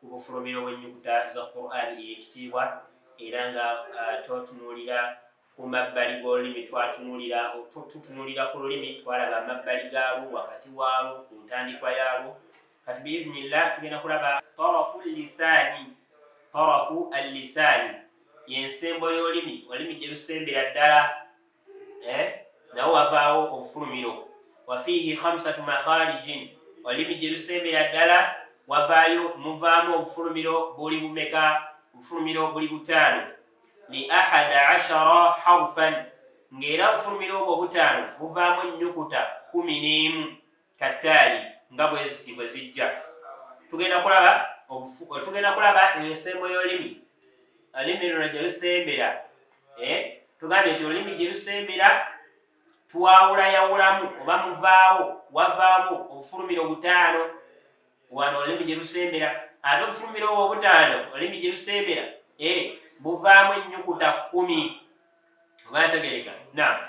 ku bufulumiro bw'ennyukuta za qur'ani ey'ekitiibwa era nga uh, totunuulira ku mabbali g'olulimi twatunuulira tutunuulira ku lulimi twalaba amabbali gaalwo wakati waalwo ku ntandikwa yaalwo kati biiznillah tugenda kulaba tarafu lisaani tarafu allisaani yensembo y'olulimi olulimi gye lusembera ddala eh? nawo wavaawo obufulumiro wafiihi hamsatu makharijin olulimi gye lusembera ddala wavaayo muvaamu obufulumiro buli bumeka obufulumiro buli butaano li ahada ashara harfan ng'era obufulumiro obwo obutaano buvaamu ennyukuta kumi n'emu kattaali nga bweziti bwe zijja tugenda kulaba tugenda kulaba ensembo y'olulimi olulimi luno gye lusembera eh? tugambye nti olulimi gye lusembera twawulayawulamu oba muvaawo wavaamu obufulumiro obutaano wano olulimi gye lusembera ate obufulumiro obwo obutaano olulimi gye lusembera eh? buvaamu ennyukuta kkumi oba yategereka na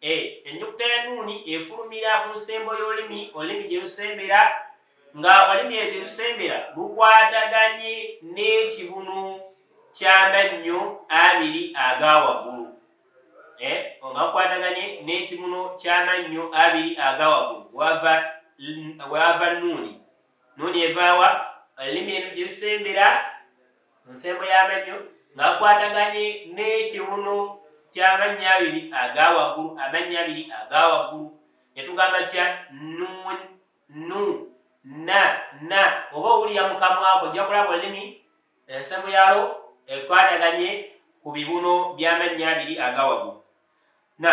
e ennyukuta ya nuuni efulumira ku nsembo y'olulimi olulimi gye lusembera nga olulimi eyo gye lusembera lukwataganye n'ekibunu ky'amannyo abiri aga waggulu e nga lukwataganye n'ekibunu ky'amannyo abiri aga waggulu wava nuuni Nuuni evaawa olulimi lugisembera mu nsembo y'amannyo nga kwataganye n'ekiwuno ky'amannya abiri aga waggulu amannya abiri aga waggulu ne tugamba tya nuun nu na na oba owulira mu kamwako ojja kulaba olulimi ensembo yalwo ekwataganye ku bibuno by'amannya abiri aga waggulu na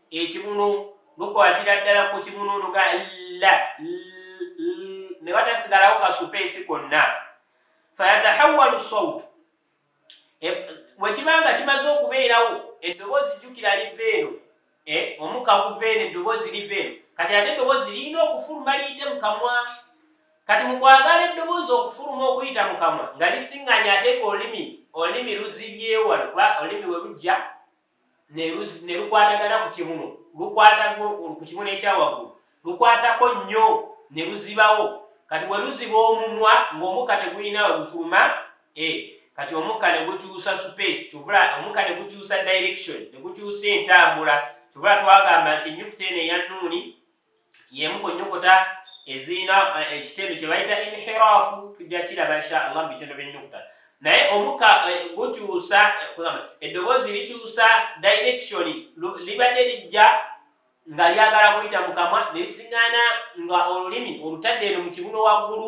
ekibunu lukwatira ddala ku kibunu luga la ne watasigalawo kasupeesi konna fayatahawalu saut e, bwekiba nga kimaze okubeerawo eddoboozi jjukira liva eno e, omuka guva eno eddoboozi liva eno kati ate eddoboozi lirina okufuluma liyite mu kamwa kati mu kwagala eddoboozi okufuluma okuyita mu kamwa nga lisiŋŋanya ate nga olimi olimi luzibyewo wano kuba olimi we lujja ne lukwatagana ku kibuno lukwatako ku kibuno ekyawaggulu lukwatako nnyo ne luzibawo kati we luziba omumwa ng'omukka tegulina we gufuluma e kati omukka ne gukyusa space kyovula omukka ne gukyusa direction ne gukyusa entambula kyovula twagamba nti enyukuta eno eya nuuni yemu ku nnyukuta ezirina eh, ekitendo kye bayita inhirafu tujja kiraba insha allah mu bitendo by'ennyukuta naye omuka eh, gukyusa eh, eddoboozi likyusa direction libadde lijja nga lyagala kuyita mu kamwa nerisigana nga olulimi olutadde eno mu kibuno waggulu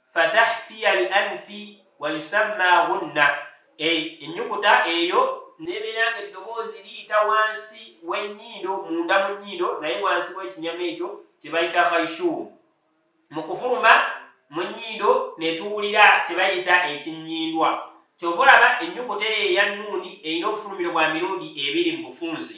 fatahtiya al anfi wayusamma ghunna ennyukuta eyo nebeera nga eddoboozi liyita wansi w'ennyindo munda mu nnyindo naye wansi w'ekinyama ekyo kye bayita khaishuumu mu kufuluma mu nnyindo ne tuwulira kye bayita ekinnyindwa kyova olaba ennyukuta eyo eya nuuni erina obufulumiro bwa mirundi ebiri mu bufunze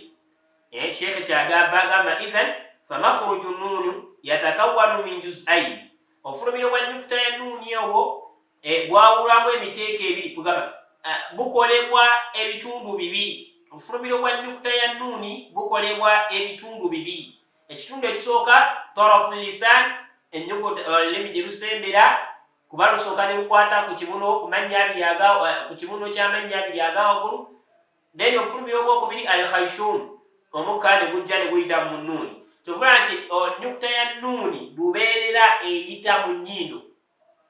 eh, sheekhe kyagamba agamba ithan famakhruju nuunu yatakawanu min juzaini Obufulumiro bwa nnyukuta ya nuuni obwo eh, bwawulwamu emiteeko ebiri kugamba eh, bukolebwa ebitundu bibiri obufulumiro bwa nnyukuta ya nuuni bukolebwa ebitundu bibiri ekitundu ekisooka torofu lisan ennyukuta eh, olulimi gye lusembera kuba lusooka ne lukwata ku kibuno ku mannya abiri aga ku kibuno ky'amannya abiri aga waggulu naye nokufulumira ogwokubiri al khaishum omukka ne gujja ne guyita mu nuuni kyovula nti nyukuta ya nuuni lubeerera eyita mu nyindo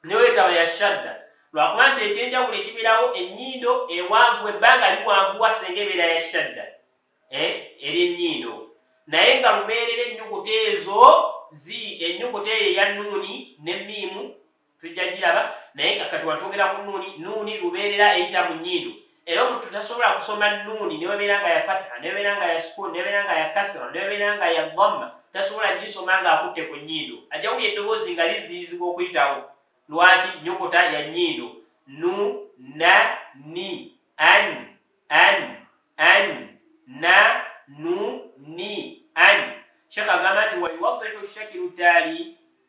newetaba ya shadda lwakuba nti ekyenjawulo ekibirawo enyindo ewanvu ebbanga liwanvuwa senga ebeera ya shadda eh, eri enyindo naye nga lubeerera enyukuta ezo zi enyukuta eyo eya nuuni ne miimu tujja giraba naye nga kati watwogera ku nuuni nuuni lubeerera eyita mu nyindo era omuntu tasobola kusoma nuuni newebeera nga ya fatiha newebeera nga ya sukuuni newebeera nga ya kasira newebeera nga ya dhamma tasobola gisoma nga akutte ku nyindo ajja wuli eddoboozi nga liziyizibwa okuyitawo lwaki nyokota ya nyindo nu na ni an an an na nu ni an shekh agamba nti wayuwadihu shakiru taali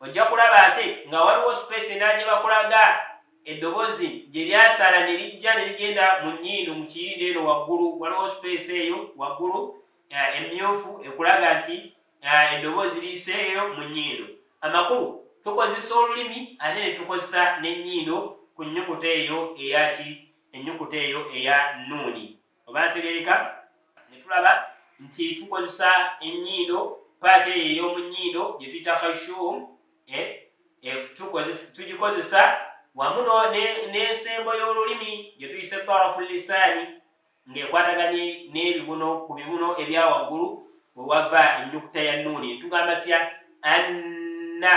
ojja kulaba ate nga waliwo space endala gye bakulaga eddobozi gye lyasala ne lijja ne ligenda mu nnyindo mu kiyindo eno waggulu waliwo space eyo waggulu eh, emmyufu ekulaga nti eh, eddobozi liyise eyo mu nnyindo amakulu tukozesa olulimi ate ne tukozesa n'ennyindo ku nnyukuta eyo eyaki ennyukuta eyo eya nuuni oba ntegereka ne tulaba nti tukozesa ennyindo paati eyo ey'omu nnyindo gye tuyita khashum eh, eh, tugikozesa wamu n'ensembo y'olulimi gye tuyise parafu lisaani ng'ekwataganye n'ebibuno ku bibuno ebya waggulu we wava ennyukuta ya nuuni tugamba tya anna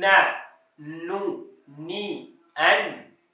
na nu ni an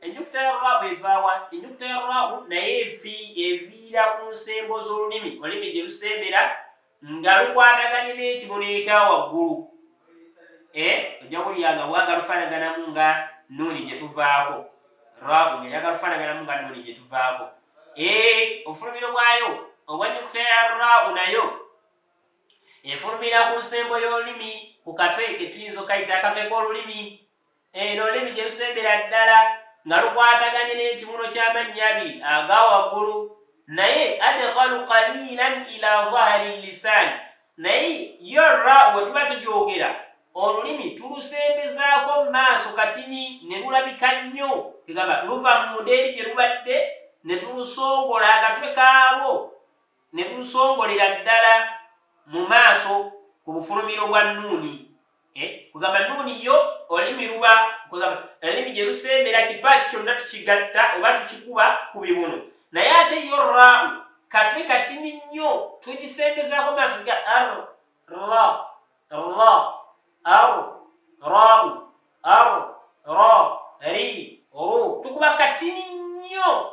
ennyukuta ya rwabu evaawa ennyukuta ya rwabu naye eviira ku nsembo z'olulimi olulimi gye lusembera nga lukwataganye n'ekibono ekya waggulu eh, ojja kulya nga waga lufaanaganamu nga nuuni gye tuvaako rwabu nga yaga lufaanaganamu nga nuuni gye tuvaako eh, obufulumiro bwayo obwa nnyukuta ya rwabu nayo efulumira ku nsembo y'olulimi ku katwe ke tuyinza okayita akatwe k'olulimi Eno olulimi gye lusembera ddala nga lukwataganye n'ekibuno ky'amannya abiri aga waggulu naye adekhalu kalilan ila zahari lisan naye yo ra we tuba tugyogera olulimi tulusembezaako mu maaso katini ne lulabika nnyo egamba luva mu mudeeri gye lubadde ne tulusongola akatwe kaalwo ne tulusongolera ddala mu maaso ku bufulumiro bwa nuuni eh, kugamba nuuni yo olulimi luba kugamba olulimi gye lusembera kipaati kyonna tukigatta oba tukikuba ku bibuno naye ate yo raawu katwe katini nnyo tugisembezaako maaso ga ar ra ra ar raawu ar ra ri ru tukuba katini nnyo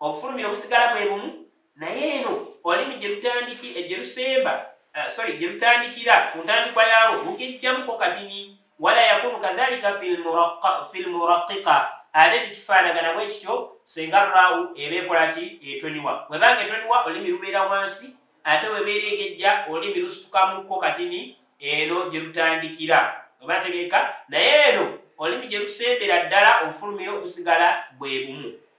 obufulumiro busigala bwe bumu naye eno olulimi gye lutandiki eh, gye lusemba eh, sorry gye lutandikira ku ntandikwa yaalwo lugejjamuko katini wala yakunu kadhalika fi lmuraqiqa ate tekifaanagana bwe kityo senga raawu eba ekola ki etoniwa webanga etoniwa olulimi lubeera wansi ate webeera egejja olulimi lusitukamukko katini eno gye lutandikira oba tegeeka naye eno olulimi gye lusembera ddala obufulumiro busigala bwe bumu